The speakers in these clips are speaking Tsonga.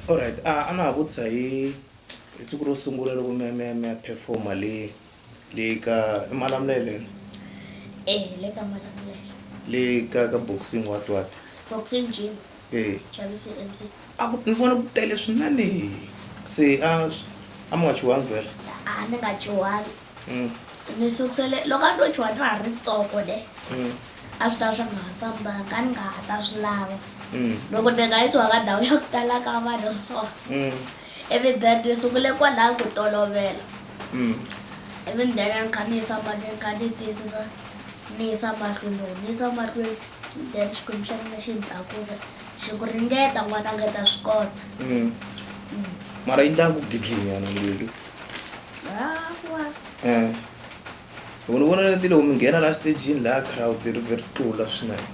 Alright a a na ha vutisa hi hi siku ro sungula loko mi ya mi ya mi ya perform-a le le ka i Malamulele e le ka Malamulele le ka ka boxing what what boxing gym e Chavisi MC a ku ni vona ku tele swinene se a a mi nga chuhangi vhele a ni nga chuhangi. mm. ni sukusele loko a to chuha ta ha ri tsoko ne mm. a swi ta swa nga ha fambanga a ni nga ha ta swi lava mm. loko ni nga yi tshuha ka ndhawu ya ku tala ka vanhu so ivi then ni sungule kwalaho ku tolovela ivi ni then a ni kha ni yisa mahlweni ni kha ni tiyisisa ni yisa mahlweni loko ni yisa mahlweni then xikwembu xa mina xi ni tlakusa xi ku ringeta n'wana nga ta swi kota mara yi ndlanga ku gidlinyana leli um loko ni vona leti loko mi nghena la stagini laha crowd ri ve ri tlula swinene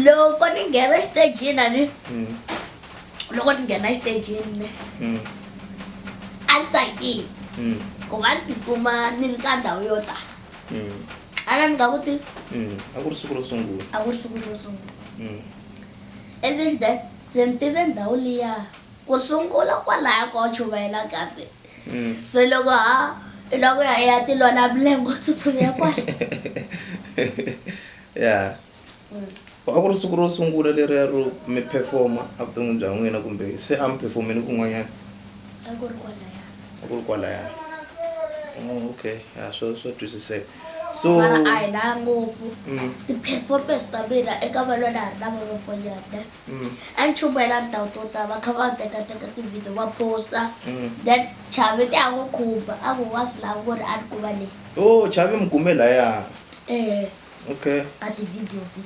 loko ni nghena stagini ani hmm. loko ni nghena stagini hmm. a ni tsakile hmm. ku va ni tikuma ni ri ka ndhawu yo ta a na ni nga ku ti a ku ri siku ro sungula a ku ri siku ro sungula and then that then tive ndhawu liya Ku sungula kwalaya ko chumayela kambe. Mm. So loko ha loko ya ya ti lona mlengo tsutsumela kwala. Yeah. Mm. A ku ri siku ro sungula leriya ro mi performa evuton'wini bya n'wina kumbe se a mi performini kun'wanyana? A ku ri kwalaya. A ku ri kwalaya. Oh, okay. Yeah, swo swo twisiseka. So mara a hi laya ngopfu. Mm. Ti-performance ta mina eka valwana a ri na van'wanyana. Mm. a ni chubela ni tawuti wo tala va kha va tekateka tivhidiyo va posta Mm. then chavi ti a n'wi khumba a ku wa swi lava ku ri a ni kuma leyi o Oh, chavi mi kume laya um okay a tivhidiyo vi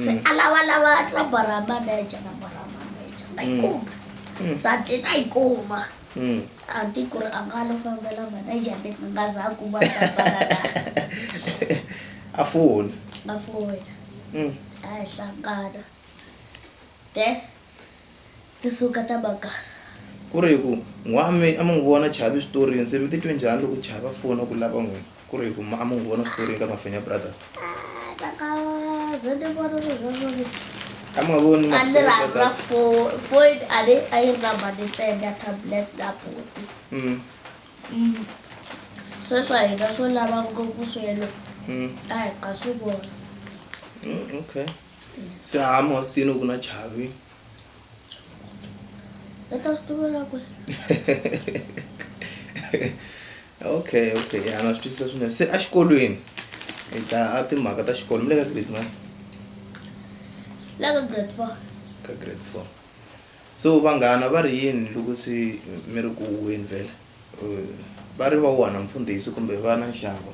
se Mm. a lavalava number ra manager number ra manager va yi Mm. kuma Mm. se a ti na yi kuma Mm. a ti ku ri a nga lo fambela manager ni ni nga za a kuma tabalana a foni na fowena Mm. a hi hlangana then tisuka ta magasa ku ri ku n'wami a mi n'wi vona chavi switoriweni se mi titwe njhani loko chava fona ku lava n'wina ku ri ku a mi n'wi vona switoriweni ka mafenya brothers a mi nga voni a ni rhandza foyini a ni a yi rhamba ni tsenda tablet na buti mm. mm. sweswo a hi nga swo lava ngopfu swelo mm. a hi nga swi vona okay se ha mo tini ku na chavi e ta swi tivela ku okay okay ya na swi twisisa swinene se exikolweni hi ta a timhaka ta xikolo mi le ka grade mani la ka grade four ka grade four so vanghana va ri yini loko se mi ri ku huweni vhele va ri va wona mfundhisi kumbe va na nxavo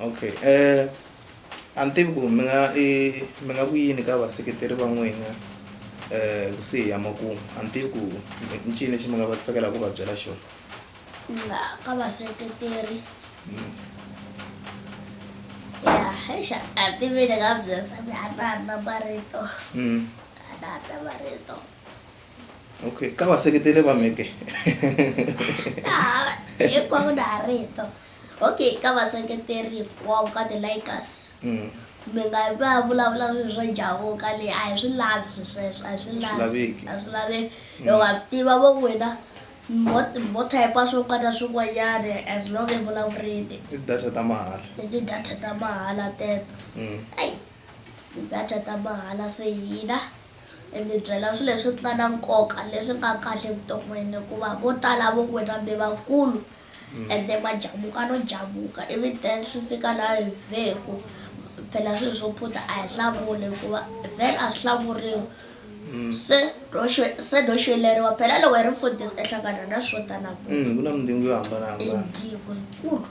okay um a ni tivi ku mi nga i mi nga ku yini ka vaseketeri va n'wina um kusuhi ya makumu a ni tivi ku i ncini lexi mi nga va tsakelaka ku va byela xona na ka vaseketeri ya hexa a ti ve ni nga byela ni hatla ni na marito Mm. a ni hatla marito okay ka vaseketeli va meke hinkwavo na ha rito okay ka vaseketeri hinkwavo ka ti-likers mm. mi nga va vulavula swilo swo javuka le a hi swi lavi swi sweswo a hi swi lavi a swi laveki mm. loko a tiva vo n'wina mo typa swo ka na swin'wanyana as long e vulavurini i data ta mahala i ti-data ta mahala teto mm. ai ti-data ta mahala se hina Hi mi byela swilo leswi nga na nkoka leswi nga kahle evuton'wini hikuva vo tala vo n'wina mi vakulu mm. ende majamuka no jamuka ivi then swi fika laha hi veku phela swilo swo phutha a hi hlamuli hikuva vhele a swi hlamuriwi mm. se se no xeleriwa phela loko hi ri mfundhisi ehlangana na swo tala ngopfu mm, ku na mindzingo yo hambanahambana indzingo yikulu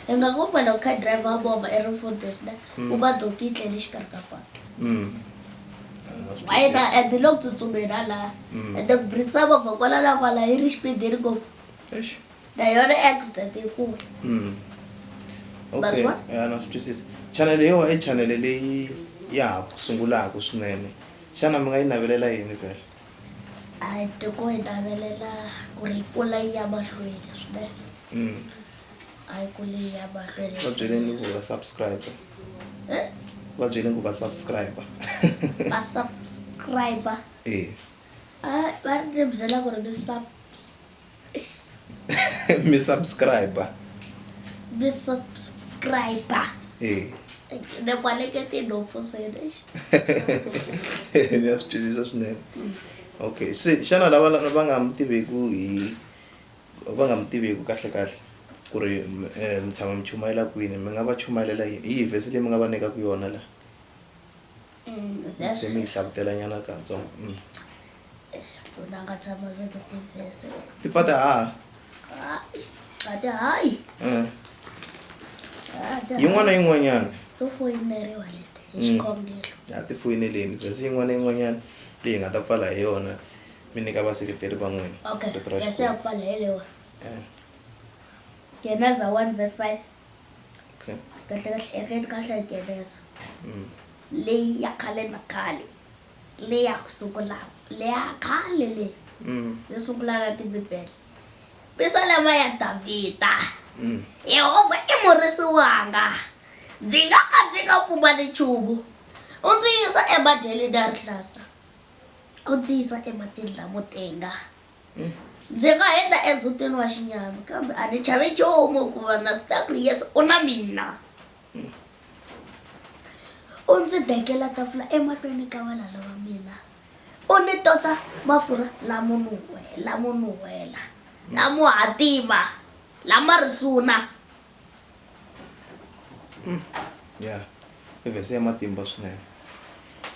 hi nga ku phela u kha driver movha i ri mfundhisi ne u va doki yi tlele xikarhi ka patu mm. wayena and lo ku tsutsumela laha mm. and brits a movha kwala na kwala yi ri xipidini ngopfu na yona accident yikulu mm. okay ya na swi twisisa chanele yo i chanele leyi ya ha ku sungulaka swinene xana mi nga yi navelela yini vhela a tiko yi navelela ku ri kula yi ya mahlweni swinene mm. a yi kuli yi ya mahlweni va byeleni ku va subscribe eh? va byele ku va subscribe va subscribe e ah, va ri byela ku ri mi sub mi subscribe mi subscribe e ne kwaleke tinhompfu swene ni ya swi twisisa swinene mm. okay se xana lava va nga mi tiveku hi va nga mi tiviki kahlekahle ku ri mi tshama mi chumayela kwini mi nga va chumayelela hi yihi vhesi leyi mi nga va nyikaka yona laha se mi yi hlavutela nyana katsongo ti pfa ti haha yin'wana na yin'wanyana a ti foyineleni vhesi yin'wana na yin'wanyana leyi hi nga ta pfala hi yona mi nyika vaseketeri va n'wina okay rito ra verse ya Xikwembu. ku pfala hi lewa Eh, geneza 1 verse 5 okay. kahle kahle ekeni kahle hi geneza Mm. leyi ya khale na khale leyi ya ku sungula leya khale leyi Mm. yo sungula na tibibele pisalema ya davhida Mm. yehovha i murisi wanga ndzi nga ka ndzi nga pfumali nchumu u ndzi yisa emadyeleni ya rihlasa u ndzi yisa ematini lamo tenga hmm. ndzi nga henda endzutini wa xinyama kambe a ni chavi nchumu ku va na sita ku yesu u na mina hmm. u ndzi dekela tafula emahlweni ka valala va mina u ni tota mafurha lamo nuhwela lamo nuhwela lamo hatima lama risuna Mm. ya i vhese ya matimba swinene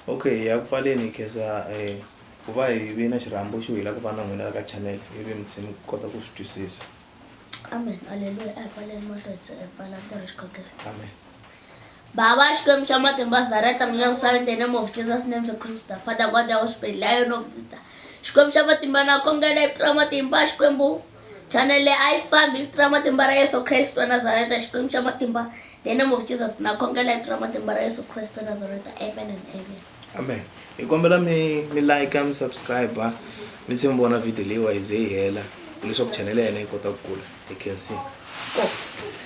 okay ya ku pfaleni khensa um ku va hi vi na xirhambo xo hi la ku va na n'wina la ka channel hi vi mutshimi ku kota ku swi twisisa amen aleluya a hi pfaleni mahlo hi tse- hi pfala ntirho xikhongelo amen Baba, Xikwembu xa matimba Zareta mina misava in the name of Jesus names of Christ the Father God the Holy Spirit Lion of Judah Xikwembu xa matimba na kombela hi tirha matimba Xikwembu Channel leyi a yi fambi vito ra matimba ra Yesu Kristo wa Nazareta Xikwembu xa matimba the name of Jesus na khongela vito ra matimba ra Yesu Kristo wa Nazareta amen and amen amen hi kombela mi mi like mi subscribe mi tlhe mi vona video leyiwa yi ze yi hela leswaku channel ya hina yi kota ku kula hi khensini